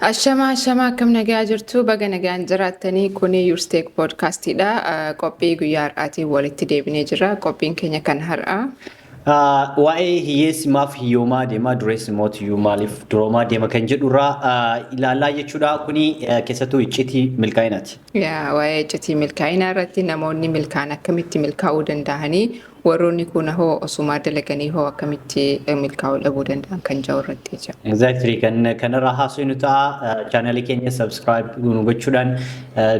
Ashamaa ashamaa akkam nagaa jirtu baga nagaan jiraattanii kuni Yuursteek poodkaastiidha qophii guyyaa har'aatiin walitti deebinee jirra qophiin keenya kan har'aa. Waa'ee hiyyeessi maaf hiyyoomaa deema dureessi immoo tiyyuu maaliif duroomaa deema kan jedhurraa ilaalaa jechuudha kuni keessattuu iccitii milkaa'inaati. Yaa waa'ee iccitii milkaa'inaa irratti namoonni milkaan akkamitti milkaa'uu danda'anii warroonni kuuna hoo osumaa dalaganii hoo akkamitti milkaa'uu dhabuu danda'an kan jedhu irratti jecha. Exactly kan kanarraa haasofnu ta'a chaanalii keenya subscribe nu gochuudhaan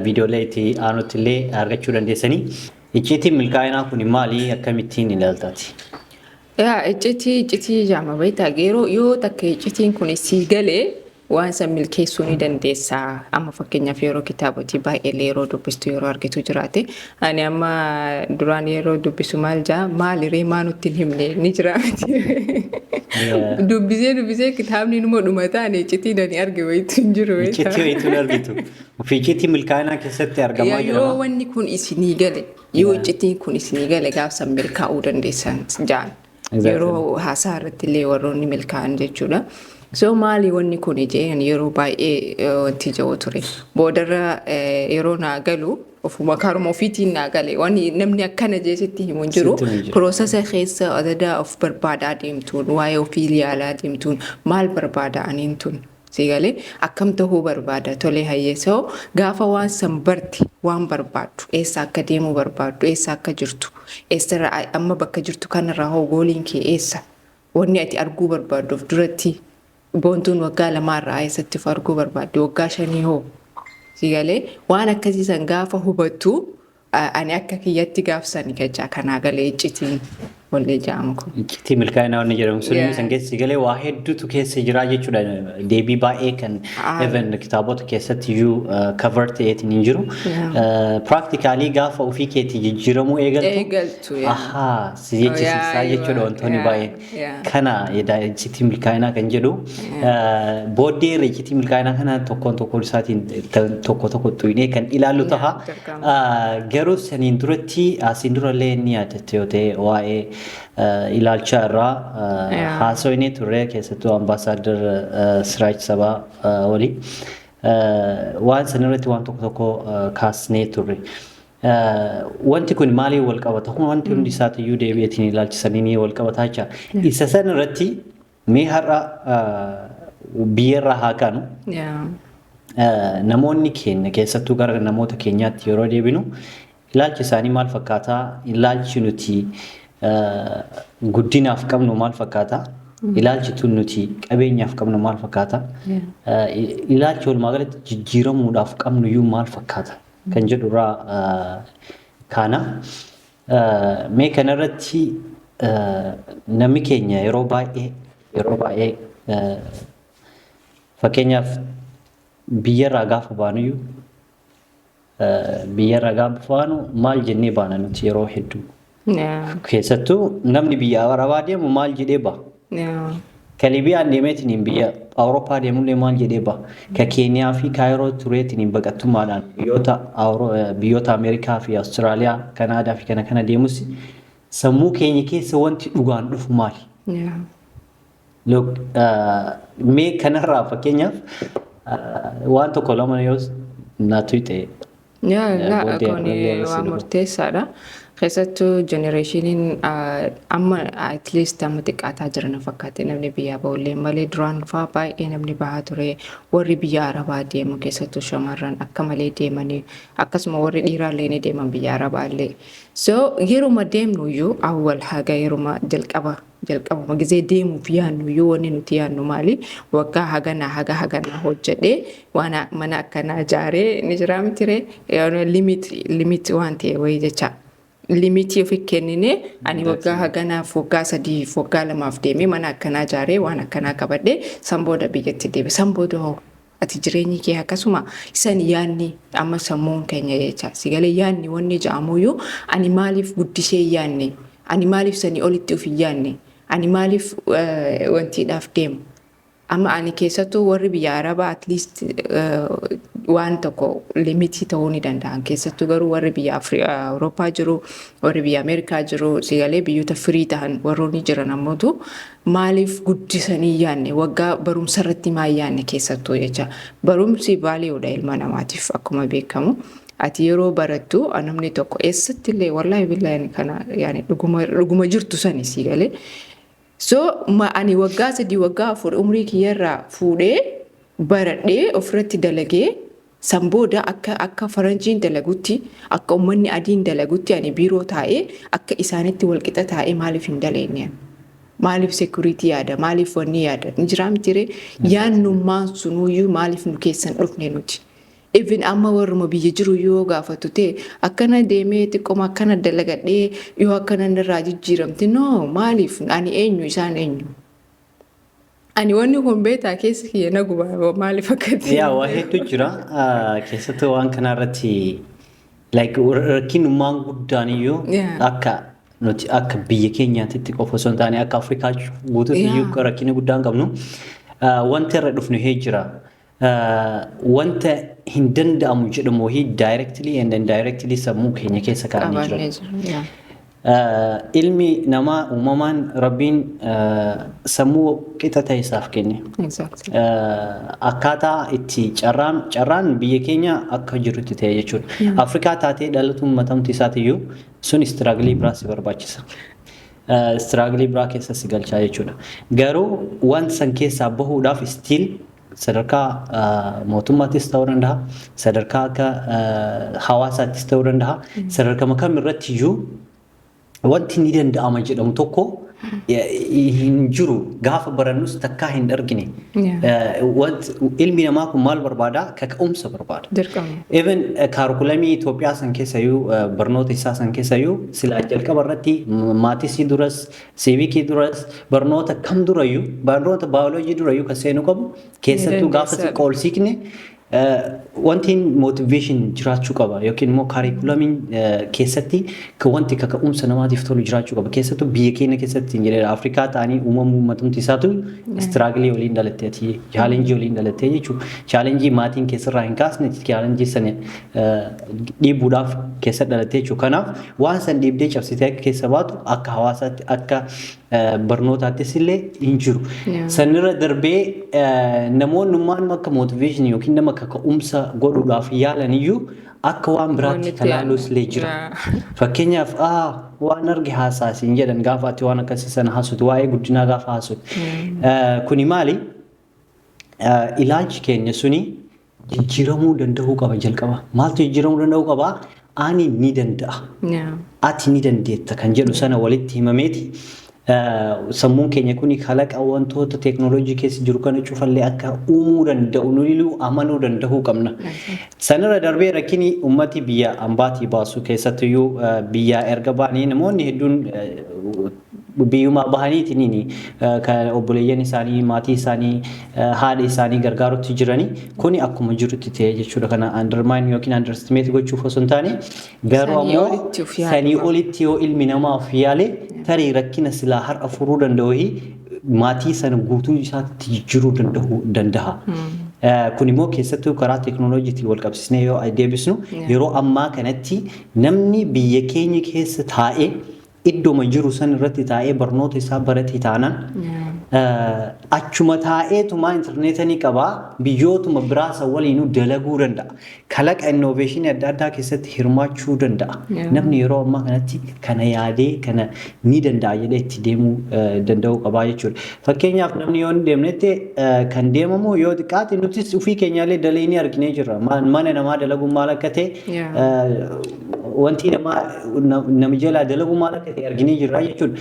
viidiyoolee itti aanutti illee argachuu dandeessanii. Icciitiin milkaa'inaa kun maali akkamittiin ilaaltaati? Yaa iccitii iccitii jaama beektaa yeroo yoo takka iccitiin kun sii galee Waan san milkeessuu ni dandeessa. Amma fakkeenyaaf yeroo kitaabotii baay'eellee yeroo dubbistu yeroo argitu jiraate. Ani amma duraan yeroo dubbisu maal jaa maali ree maa nutti hin himne ni jira miti. Yeah. Dubbisee dubbisee kitaabni numa dhumata ani iccitii nani arge wayitu hin jiru beektaa. Iccitii wayitu hin argitu. Ofii iccitii milkaa'inaa keessatti argamaa Yaa jira. yoo wanni kun isinii gale yoo Yeah. iccitiin kun isinii gale gaafsan milkaa'uu dandeessan jaan. Yeroo haasaa irratti illee warroonni milkaa'an jechuudha. So maali wanni kun jeen yeroo baay'ee wanti ja'u ture. Boodarra yeroo naa galu ofuma karuma ofiitiin naa gale waan namni akkana jee sitti himu hin jiru. Piroosesa keessa adadaa of barbaadaa deemtuun waa'ee ofii yaalaa deemtuun maal barbaada aniin tun Sii galee? Akkam tahuu barbaada? Tolee hayyee so gaafa waan san barte waan barbaaddu eessa akka deemuu barbaaddu eessa akka jirtu eessarra amma bakka jirtu kanarraa hoo gooliin kee eessa wanni ati arguu barbaaddu of duratti boontuun waggaa lamaarraa eessatti of arguu barbaaddi waggaa shanii hoo sii galee? Waan akkasii san gaafa hubattu Ani akka kiyyatti gaafsani kechaa kanaa galee iccitiin wallee ja'amu kun. Iccitii milkaa'inaa wanni jedhamu sun Yeah. isan keessa galee waa hedduutu keessa jiraa jechuudha. Deebii baay'ee kan Ah. even kitaabota keessatti iyyuu cover ta'eetiin hin jiru. Yeah. Practically gaafa ofii keetii jijjiiramuu eegaltu. Eegaltu, yeah. Ahaa si jechisiisaa Yeah, jechuudha wantoonni yeah. baay'een. Yeah. Kana edaa iccitii milkaa'inaa kan jedhu booddee irra iccitii milkaa'inaa kana tokkoon tokkoon isaatiin kan tokko tokko xuyinee kan ilaallu taha. dirqama. Ah, Garuu saniin duratti asiin durallee ni yaadatte yoo ta'e waa'ee ah, ilaalchaa irraa ah, Yeah. haasofnee turre keessattuu ambaasaaddar ah, Siraaj Sabaa ah, waliin Ah, waan sanirratti waan tokko tokko ah, kaasnee turre. Wanti kun maaliin wal qabata? Akkuma wanti hundi isaati iyyuu deebi'eetiin ilaalchisanii ni wal qabataa jecha. Isa san irratti mee har'a biyyarraa haa kaanu. Namoonni keenya keessattuu gara namoota keenyaatti yeroo deebinu ilaalchi isaanii maal fakkaataa? Ilaalchi nuti guddinaaf qabnu maal fakkaataa? Ilaalchi tun nuti qabeenyaaf qabnu maal fakkaataa? Ilaalchi walumaa galatti jijjiiramuudhaaf qabnu iyyuu maal fakkaata? kan jedhu irraa kaana. Mee kanarratti namni keenya yeroo baay'ee yeroo baay'ee fakkeenyaaf biyyarraa gaafa baanuyyuu biyyarraa gaafa baanu maal jennee baana nuti yeroo hedduu Keessattuu namni biyya Arabaa deemu maal jedhee ba'a? Ka Libiyaan deemeetiniin biyya Awurooppaa deemullee maal jedhee ba'a? Ka Keeniyaa fi Kaayiroo tureetiniin baqattummaadhaan biyyoota biyyoota Ameerikaa fi Awustiraaliyaa, Kanaadaa fi kana kana deemus sammuu keenya keessa wanti dhugaan dhufu maali? Look, uh, mee kanarraa fakkeenyaaf uh, waan tokko lama yoo na tuyxe Yaa Eh, gaa booddee kun ammallee waan si waan dhufu. murteessaadha. Keessattuu jenereeshiniin amma at least amma xiqqaataa jira na fakkaate namni biyyaa ba'ullee malee duraan faa baay'ee namni bahaa ture warri biyya arabaa deemu keessattuu shamarran akka malee deemanii akkasuma warri dhiiraallee ni deeman biyya arabaallee. So yeruma deemnuyyuu awwal haga yeruma jalqaba Jalqabuma gizee deemuuf yaannuyyuu wanni nuti yaannu maali? Waggaa haganaa haga haganaa hojjedhee waan mana akkanaa jaaree ni jiraa mitiree? Limit limit waan ta'e wayii jecha. Limitii ofi kenninee ani waggaa haganaaf waggaa sadiif waggaa lamaaf deemee mana akkanaa jaaree waan akkanaa qabadhee san booda biyyatti deebi'e. San booda hoo Ati jireenyi kee akkasuma isan yaadni amma sammuun keenya jecha si galee yaadni wanni ja'amuyyuu ani maaliif guddisee hin yaadne ani maaliif sanii olitti of hin yaadne ani maaliif eh, wantiidhaaf deema amma ani keessattuu warri biyya arabaa at least eh, waan tokko limitii ta'uu ni danda'an keessattuu garuu warri biyya Afri- eh, awurooppaa jiru warri biyya ameerikaa jiru si galee biyyoota firii ta'an warroonni jiran ammootu maaliif guddisanii hin yaadne waggaa barumsa irratti maa hin yaadne keessattuu jecha barumsi vaaliyoodha ilma namaatiif akkuma beekamu ati yeroo barattu namni tokko eessatti illee wallaahi billaahi kana yaani dhuguma dhuguma jirtu sani sii galee so ma ani waggaa sadii waggaa afur umrii kiyyarraa fuudhee baradhee ofirratti dalagee San booda akka akka faranjiin dalagutti, akka ummanni adiin dalagutti ani biiroo taa'ee akka isaanitti wal qixa taa'ee maaliif hin daleenne ani? Maaliif security yaada? Maaliif wanni yaada? Hin jiraa miti ree? Yaannummaan sunuyyuu maaliif nu keessa hin dhufne nuti? Even amma warruma biyya jiru iyyuu yoo gaafattu ta'e akkana deemee xiqqoma akkana dalagadhee yoo akkana narraa jijjiiramte no maaliif ani eenyu isaan eenyu? Ani wanni kun beektaa keessi kiyya na guba maaliif akkatti. Yaa waa hedduu jira Ah, keessattuu waan kana irratti like rakkinummaan guddaan iyyuu Yeah. akka nuti akka biyya keenyaatti qofa osoo hin taane akka Afrikaa guutuutti iyyuu Yeah. rakkina guddaan qabnu Ah, wanti irra dhufnu hee jira wanta hin danda'amu jedhamu wahii directly and indirectly sammuu keenya keessa kaa'anii jiran. Qabaannee jiru. yaa. Eh, ilmi namaa uumamaan rabbiin eh, sammuu qixa ta'e isaaf kenne. Exactly. Eh, Akkaataa itti carraan carraan biyya keenya akka jirutti ta'e jechuudha. Afrikaa taatee dhalatuun matamti isaatiyyuu sun istiraaglii biraa si barbaachisa. Eh, Istiraaglii biraa keessa si galchaa jechuudha. Garuu waan san keessaa bahuudhaaf istiil Sadarkaa mootummaattis ta'uu danda'a, sadarkaa akka hawaasaattis ta'uu danda'a, sadarkama kam irratti iyyuu wanti ni danda'ama jedhamu tokko hin jiru gaafa barannus takkaa hin argine. Ilmi namaa kun maal barbaada? Kaka'umsa barbaada. Even kaarikulamii Itoophiyaa san keessayyuu barnoota isaa san keessayyuu silaa jalqaba irratti maatisii duras Siivikii duras barnoota kam durayyuu barnoota baayoloojii durayyuu kan seenu qabu keessattuu gaafa dandeessaa. xiqqoo ol siiqne eh, wanti motivation jiraachuu qaba yookiin immoo kaarikulamiin eh, keessatti ka- wanti kaka'umsa namaatiif tolu jiraachuu qaba keessattuu biyya keenya keessatti hin jedheera Afrikaa ta'anii uumamuu uummatumti isaatu istiraagilee waliin dhalattee ati chaalenjii waliin dhalattee jechuudha chaalenjii maatiin keessarraa hin kaasne chaalenjii sana eh, dhiibuudhaaf keessa dhalattee jechuudha kanaaf Waan san dhiibdee cabsitee akka keessa baatu akka hawaasaatti akka barnootaattis illee hin jiru. Sanirra darbee namoonni ummaan akka mootiveeshinii yookiin nama kaka'umsa godhuudhaaf yaalan iyyuu akka waan biraatti kan ilaaluus illee jira. Fakkeenyaaf waan arge haasaasiin jedhan gaafa ati waan akkasii sana haasutu waa'ee guddinaa gaafa haasutu. Kuni maali? Ilaalchi keenya suni jijjiiramuu danda'uu qaba jalqaba. Maaltu jijjiiramuu danda'uu qaba? Ani ni danda'a. Ati ni dandeetta kan jedhu sana walitti himameeti. Sammuun keenya kuni kalaqa wantoota teeknooloojii keessa jiru kana cufallee akka uumuu danda'u nuyiluu amanuu danda'uu qabna. Sanirra darbee rakkini ummati biyya ambaatii baasu keessattuyyuu biyyaa erga baanii namoonni hedduun biyyumaa bahaniitiin kan obboleeyyan isaanii, maatii isaanii, haadha isaanii gargaarutti jirani kuni akkuma jirutti ta'e jechuudha. Kana undermine yookiin underestimate gochuuf osoo hin taane garuu Sanii ammoo olitti of yaade sanii waan- olitti yoo ilmi namaa of yaale tarii rakkina silaa har'a furuu danda'u hi maatii sana guutuu isaatti jijjiiruu danda'u danda'a. Eh, Kun immoo keessattuu karaa teekinooloojiitiin wal qabsiisnee yoo deebisnu Yeah. yeroo ammaa kanatti namni biyya keenya keessa taa'ee iddoma jiru san irratti taa'ee barnoota isaa barate taanaan achuma taa'eetumaa intarneeta ni qaba biyyootuma biraa san waliinuu dalaguu danda'a. Kalaqa innoveeshinii adda addaa keessatti hirmaachuu danda'a. Namni yeroo ammaa kanatti kana yaadee kana ni danda'a jedhee itti deemuu danda'uu qabaa jechuudha. Fakkeenyaaf namni yoo hin deemnetti kan deemamu yoo xiqqaate nutis ofii keenyaallee dalaynee arginee jirra. Mana namaa dalaguun maal akka ta'e wanti namaa nami jalaa dalagu maal akka ta'e arginee jirra jechuudha.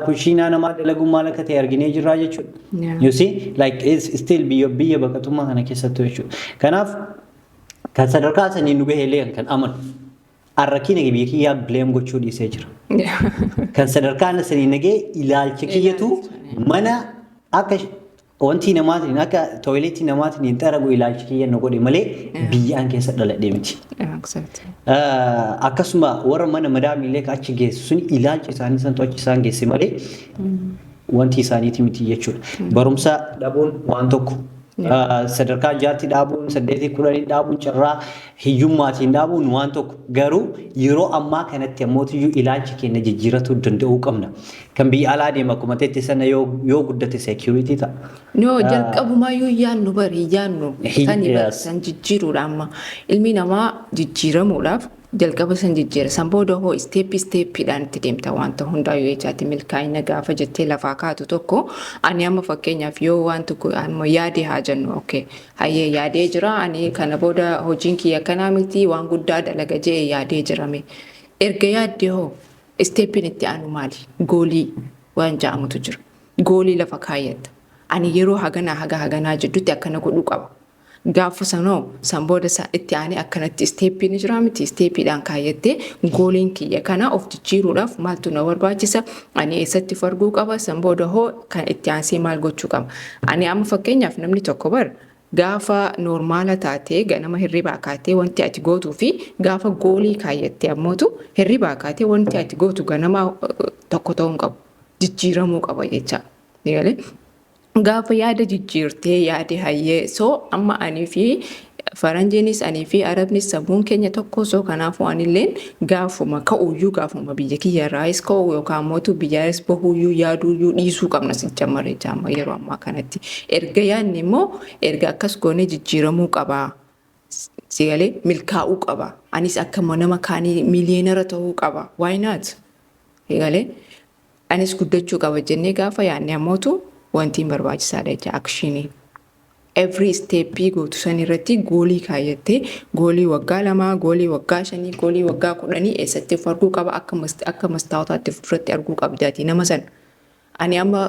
Kushiinaa namaa dalagu maal akka ta'e arginee jirra jechuudha. Yeah. You see like it's still biyya biyya baqatummaa kana keessattuu jechuudha. Kanaaf kan sadarkaa sanii nu gahee illee kan amanu har'a kiina biyya kiyyaa bileem gochuu dhiisee jira. Kan sadarkaa sanii nagee ilaalcha kiyyatu mana akka Wanti namaatiin akka tooyileetii namaatiin hin xaragu ilaalchi kiyya na godhe malee biyyaan keessa dhaladhee miti. Exactly. Ah, Akkasuma warra mana madaamiillee ka achi geessu sun ilaalchi isaanii santu achi isaan geesse malee wanti isaaniiti miti jechuudha. Barumsa dhabuun waan tokko. Ah, Sadarkaa jaatti dhaabuun, saddeetii kudhanii dhaabuun, carraa hiyyummaatiin dhaabuun waan tokko. Garuu yeroo ammaa kanatti ammootiyyuu ilaalcha keenya jijjiiratuu danda'uu qabna. Kan biyya alaa deema akkuma teetti sana yoo yoo guddate security ta'a. No, Ah. jalqabumaa yoo yaannu bari yaannu Hi- sani bari yes. san jijjiiruudha amma ilmi namaa jijjiiramuudhaaf jalqaba san jijjiira san booda hoo isteeppi isteeppiidhaan itti deemta wanta hundaa yoo jechaatti milkaa'ina gaafa jettee lafaa kaatu tokko ani amma fakkeenyaaf yoo waan tokko amma yaadee haa jennu okay hayyee yaadee jira ani kana booda hojiin kiyya kanaa miti waan guddaa dalaga jee yaadee jirame erga yaaddee hoo Isteeppiin itti aanu maali? Goolii waan ja'amutu jira. Goolii lafa kaayyatta. Ani yeroo haganaa haga haganaa jiddutti akkana godhuu qaba. Gaaffa sanoo san booda sa itti aanee akkanatti isteeppii ni jiraa miti isteeppiidhaan kaayyattee gooliin kiyya kana of jijjiiruudhaaf maaltu na barbaachisa ani eessatti of arguu qaba san booda hoo kan itti aansee maal gochuu qaba ani amma fakkeenyaaf namni tokko bar Gaafa noormaala taate ganama hirribaa kaatee wanti ati gootuu fi gaafa goolii kaayyatte ammootu hirribaa kaatee wanti ati gootu ganamaa tokko ta'uu hin qabu. Jijjiiramuu qaba jecha. Gaafa yaada jijjiirtee yaade hayyee soo amma anii fi faranjiinis anii fi arabnis sammuun keenya tokko soo kanaafuu anilleen Gaafuma ka'uyyuu gaafuma biyya kiyya irraayis ka'u yookaan mootu biyyaanis bahuyyuu yaaduyyuu dhiisuu qabna sijjamar jecha amma yeroo ammaa kanatti erga yaadne immoo erga akkas goonee jijjiiramuu qabaa sigalee milkaa'uu qaba anis akka nama kaanii miiliyeenara ta'uu qaba why not sigalee anis guddachuu qaba jennee gaafa yaadne ammootu wantiin barbaachisaadha jecha akshiinii. every isteeppii gootu san irratti goolii kaayyattee goolii waggaa lamaa goolii waggaa shanii goolii waggaa kudhanii eessatti of arguu qaba akka mast- akka mastaawotaatti fuulduratti arguu qabdaati nama san ani amma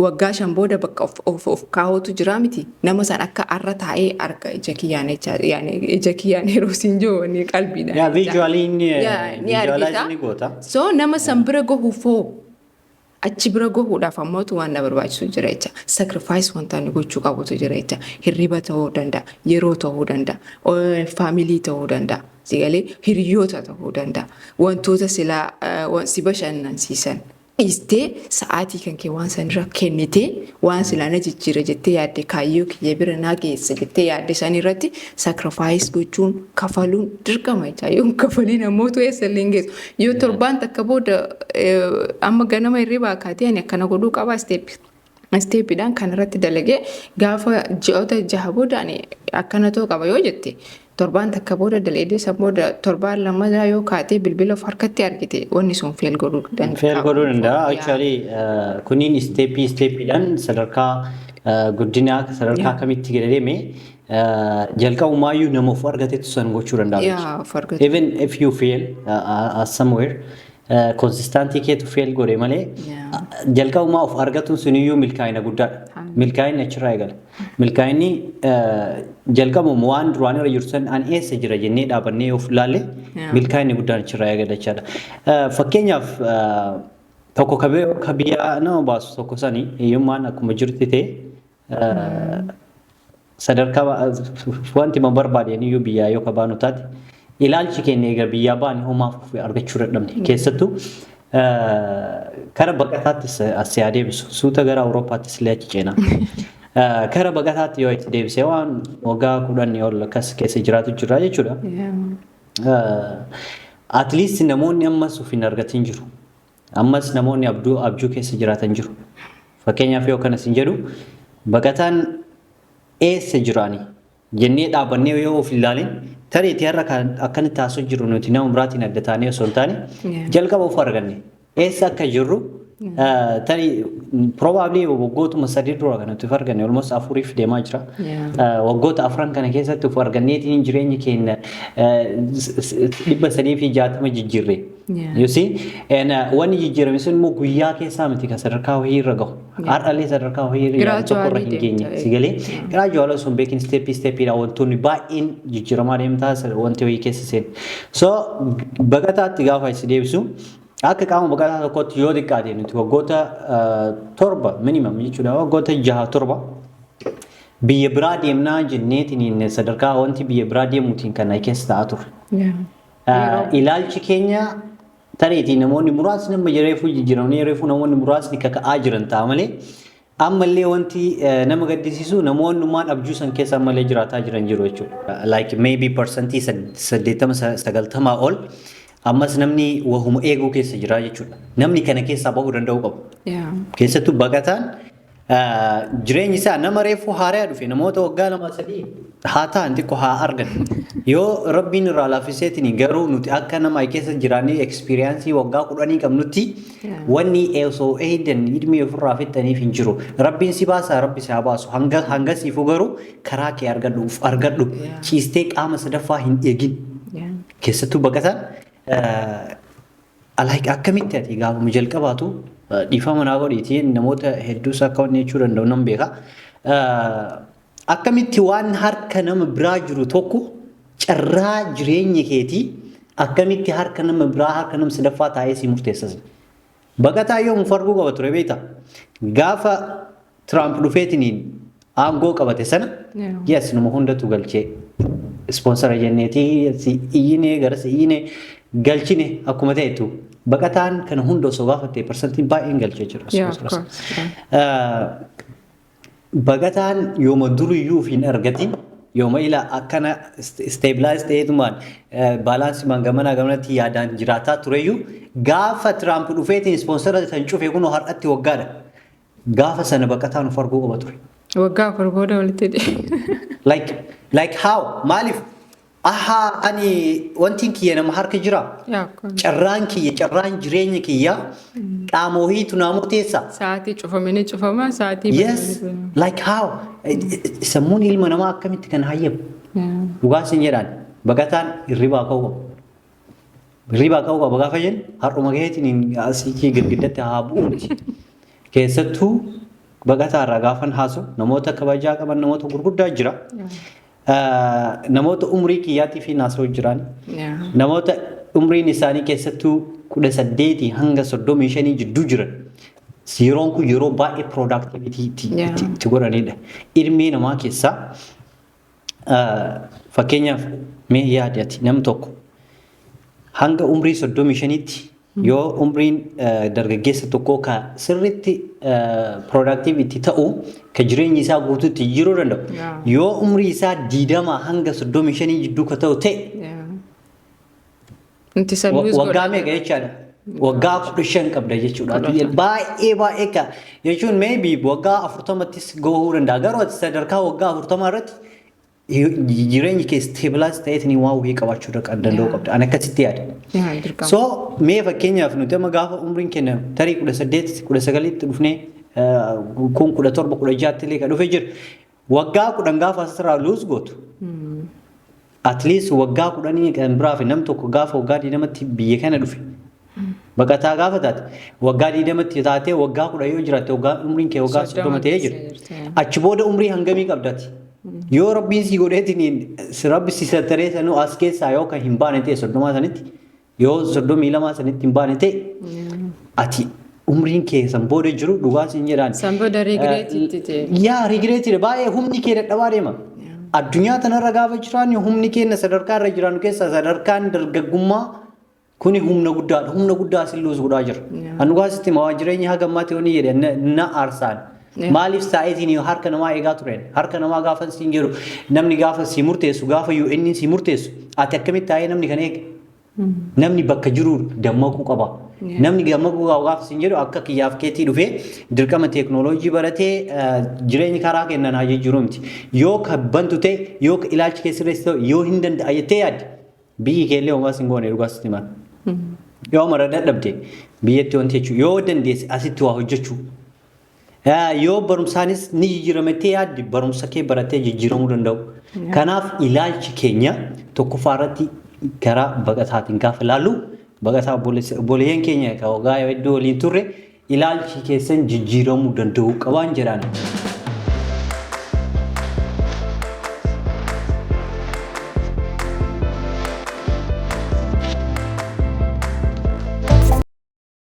waggaa shan booda bakka of, of, of kaa'uutu jira miti nama san akka arra taa'ee arga ija kiyyaan jecha yaani ija kiyyaan yeroo siin jiru wanni qalbiidhaan Yaa jecha. viijuwaalii inni Yaa, ni viijuwaalaayiz argita. ni goota. so nama san bira gahuuf hoo Achi bira gahuudhaaf ammoo waan na barbaachisu jira jecha. Sacrifice wanta ani gochuu qabutu jira jecha. Hirriba ta'uu danda'a, yeroo ta'uu danda'a, faamilii ta'uu danda'a, si galee hiriyoota ta'uu danda'a. Wantoota silaa si bashannansiisan dhiistee sa'aatii kan kee waan sanirra kennitee waan silaa na jijjiira jettee yaadde kaayyoo kiyya bira na geessa jettee yaadde sanirratti sacrifice gochuun kafaluun dirqama jecha. Yoon kafaliin ammoo tu eessa illee hin geessu. Yoo Yaa. torbaan takka booda eh, amma ganama hirribaa kaatee ani akkana godhuu qaba isteeppi. Isteeppiidhaan kan irratti dalagee gaafa ji'oota jaha booda ani akkana ta'uu qaba yoo jette torbaan takka booda daleedee san booda torbaan lammataa yoo kaatee bilbila of harkatti argite wanni sun feel godhuu danda'a. Feel godhuu danda'a. Yaa. Actually uh, kuniin isteeppii isteeppiidhaan sadarkaa uh, guddinaa sadarkaa Yaa. kamitti gadi deeme Jalqabumaayyuu nama of argatetu san gochuu danda'a. Yaa of argatu. Even if you fail uh, uh, as somewhere, uh, consistency keetu fail godhe malee Yeah. uh, jalqabumaa of argatuun suniyyuu milkaa'ina guddaadha. Haa. Milkaa'inni achirraa eegala. Milkaa'inni uh, jalqabuma waan duraan irra jirtu san an eessa jira jennee dhaabannee of laalle Yeah. milkaa'inni guddaan achirraa eegala jechaadha. Uh, Fakkeenyaaf uh, tokko ka bi- ka biyyaa nama baasu tokko sani hiyyummaan akkuma jirti ta'e sadarkaa wanti ma barbaade iyyuu biyyaa yoo kabaanu taate ilaalchi keenya egaa biyyaa baane homaa argachuu dadhabne keessattuu kara baqataattis as yaa deebisu suuta gara awurooppaattis illee achi ceena. Kara baqataatti yoo itti deebisee waan waggaa kudhanii ol akkas keessa jiraatu jira jechuudha. At least namoonni ammas of hin argatin jiru. Ammas namoonni abduu abjuu keessa jiraatan jiru. Fakkeenyaaf yoo akkana siin jedhu baqataan eessa jiraani jennee dhaabannee yoo of ilaalin tarii itti har'a kan akkanatti haasoo jiru nuti nama biraatiin adda taanee osoo hin taane Yeah. jalqaba of arganne eessa akka jirru eh, tarii probably waggootuma sadii dura kan nuti of arganne almost afuriif deemaa jira. Yeah. Eh, waggoota afran kana keessatti of arganneetiin jireenya keenya eh, s- s- dhibba sadii fi jaatama jijjiirre. You see? And uh, wanni jijjiirame sun immoo guyyaa keessaa miti kan sadarkaa wayii irra gahu. Har'allee sadarkaa wayii irra yaadu tokko irra hin Gradually geenye. deemta, Si galee? Gradually osoo hin beekin steppii steppiidha wantoonni baay'een jijjiiramaa deemtaa sa- wanti wayii keessa seenu. So baqataatti gaafa si deebisu akka qaama baqataa tokkootti yoo xiqqaate nuti waggoota uh, torba minimum jechuudha waggoota jaha torba biyya biraa deemnaa jenneetiin sadarkaa wanti biyya biraa deemuutiin kan na keessa ta'aa ture. Yeroo- Ilaalchi keenya tareetii namoonni muraasni amma reefuu jijjiiramanii reefuu namoonni muraasni kaka'aa jiran ta'a malee ammallee wanti eh, nama gaddisiisu namoonnumaan abjuu san keessa ammallee jiraataa jiran jiru jechuudha. Like maybe parsantii saddeettama sagaltamaa ol ammas namni wahuma eeguu keessa jira jechuudha. Namni kana keessaa bahuu danda'uu qabu. Yeah. Keessattuu baqataan Jireenyi isaa nama reefuu haaraa dhufe namoota waggaa lama sadii haa ta'an xiqqoo haa argan. Yoo rabbiin irraa laaffiseetiin garuu nuti akka nama keessa jiraannee ekspiriyaansii waggaa kudhanii qabnutti wanni osoo eeydan ilmii ofirraa fixxaniif hin jiru. Rabbiin si baasaa rabbi si haa baasu hanga hanga siifuu garuu karaa kee argadhu uf argadhu ciistee qaama sadaffaa hin eegin. Keessattuu baqataan Like akkamitti ati gaafuma jalqabaatu dhiifama naa godhiiti namoota hedduus akka wanni jechuu danda'u nan beeka. Akkamitti waan harka nama biraa jiru tokko carraa jireenya keetii akkamitti harka nama biraa harka nama sadaffaa taa'ee si murteessas. Baqataa yoomuu arguu qaba ture beekta. Gaafa Tiraamp dhufeetiniin aangoo qabate sana yes numa hundatu galchee ispoonsara jenneetii si iyyinee gara si iyyinee galchine akkuma ta'etu baqataan kana hunda osoo baafattee parsantiin baay'een galchee jira. Baqataan yooma duriyyuu hin argatin yooma ilaa akkana isteebilaayiz ta'eetumaan baalaansimaan gamanaa gamanatti yaadaan jiraataa tureyyuu gaafa Tiraamp dhufeetiin ispoonsara san cufe kunoo har'atti waggaadha. Gaafa sana baqataan of arguu qaba ture. Waggaa afur booda walitti deebi'e. Like, like how? Maaliif? Ahaa ani wantiin kiyya nama harka jira. Yaa kun Carraan kiyya, carraan jireenya kiyya qaama wahiitu naa murteessa. sa'aatii cufamanii cufamaa sa'aatii Yes, banamanii like how? Sammuun ilma namaa akkamitti kan hayyamu? banamanii. Dhugaa isin jedhaan baqataan hirribaa ka'uu qabu. Hirribaa ka'uu qaba gaafa jennu har'uma keetiin asii girgiddatti haa bu'u miti. Keessattuu baqataa irraa gaafan haasu namoota kabajaa qaban namoota gurguddaa jira. Namoota umrii kiyyaatii fi naasoo jiran namoota umriin isaanii keessattuu kudha saddeetii hanga soddomii shanii jidduu jiran yeroon kun yeroo baay'ee piroodaaktivitii itti godhanidha. Ilmee namaa keessaa Fakkeenyaaf mee yaadi ati nam tokko hanga umrii soddomii shaniitti yoo umriin dargaggeessa tokkoo ka sirriitti piroodaaktiiv itti ta'u ka jireenyi isaa guutuutti jiruu danda'u yoo umrii isaa diidamaa hanga soddomii shanii jidduu ka ta'u ta'e Nuti isa Wa- lose waggaa godha. meeqa jechaadha waggaa kudha shan qabda jechuudha Kudha Ati shan. baay'ee baay'ee ka jechuun maybe waggaa afurtamattis gahuu danda'a garuu ati sadarkaa waggaa afurtamaa irratti hi- jireenyi kee stabilize ta'eetiin waan wayii qabaachuu dha- danda'u Yeah. qabda ani akkasitti yaada Yaa dirqama. so mee fakkeenyaaf nuti amma gaafa umriin keenya tarii kudha saddeet kudha sagalitti dhufnee eh, kun kudha torba kudha jaatti illee ka dhufe jira Waggaa kudhan gaafa asirraa luus gootu. At least waggaa kudhanii kan biraa fi nam tokko gaafa waggaa digdamatti biyya kana dhufe. Baqataa gaafa taate waggaa digdamatti taatee waggaa kudhan yoo jiraatte waggaa umriin kee waggaa soddoma ta'ee jira. Achi booda umrii hangamii qabdati. Yoo rabbiin si godheetiin rabbi si sattaree sanuu as keessaa yoo kan hin baane ta'e soddomaa sanitti Yoo soddomii lamaa sanitti hin baane ta'e ati umriin kee san booda jiru dhugaa siin jedhaan. San booda regret itti ta'e. Yaa regreetiidha baay'ee humni kee dadhabaa deema. Addunyaa tanarra gaafa jiraan humni keenya sadarkaa irra jiraannu keessaa sadarkaan dargaggummaa kuni humna guddaadha. Humna guddaa sin luus godhaa jira. Yaa. Anu gaasitti maa jireenya haga ammaatti yoo ni jedhe na- na aarsaan. Maaliif saayiziin yoo harka namaa eegaa tureen? Harka namaa gaafan siin jedhu namni gaafa sii murteessu gaafa yoo inni sii murteessu ati akkamitti taa'ee namni kan eege? Namni bakka jiru dammaquu qaba. Namni dammaquu qaba gaafa siin jedhu akka kiyyaaf keetii dhufee dirqama teeknooloojii baratee eh, jireenyi karaa kennan haa jijjiiruu miti. Yoo ka bantu ta'e yoo ka ilaalchi kee sirreessi ta'e yoo hin danda'a jettee yaadde biyyi kee illee homaa siin goone dhugaa sitti mara. Yoo mara dadhabde biyyatti wanti jechuudha. Yoo dandeesse asitti waa hojjechuu. Yoo barumsaanis ni jijjiirama jettee yaaddi barumsa kee baratee jijjiiramuu danda'u. Kanaaf ilaalchi keenya tokkoffaa irratti gara baqataatiin gaafa ilaallu baqataa obboleeyyan keenya egaa waggaa hedduu waliin turre ilaalchi keessan jijjiiramuu danda'u qabaan jedhaan.